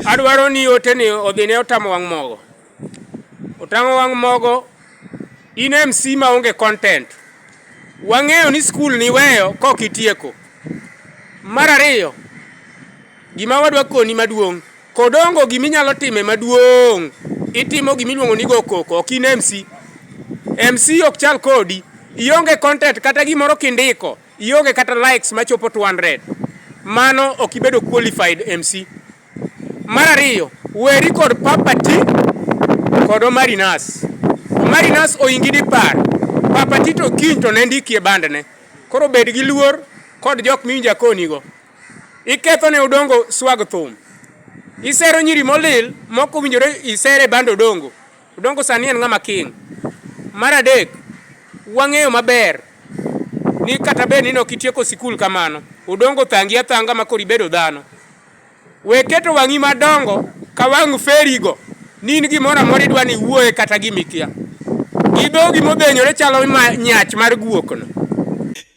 adwaro ni ote ni odhi ne otamo wang' mogo otamo wang' mogo in MC ma onge content wang'eyo ni skul ni weyo kok itieko mar ariyo gima wadwa koni maduong' Kodongo gima inyalo time maduong', itimo gima iluongo ni go koko, ok in MC. MC ok chal kodi, ionge content kata gimoro kindiko, ionge kata likes machopo 200. Mano ok ibedo qualified MC. Mar ariyo, weri kod papati kod Omari Nas. Omari Nas oingi dipar, papati to kiny to ne ndikie bandne. Koro bed gi luor kod jok miwinjo akonigo. Iketho ne Odongo swag thum. Isero nyiri molil mok owinjore isere band Odongo. Odongo sani en ng'ama king. Mar adek, wang'eyo maber ni kata bed ni nok itieko sikul kamano, Odongo thangi athanga ma koro ibedo dhano. We keto wang'i madongo ka wang' ferigo ni in gimoro amora idwa ni iwuoye kata gimikia. Gi dhogi modhenyore chalo ma nyach mar guokno.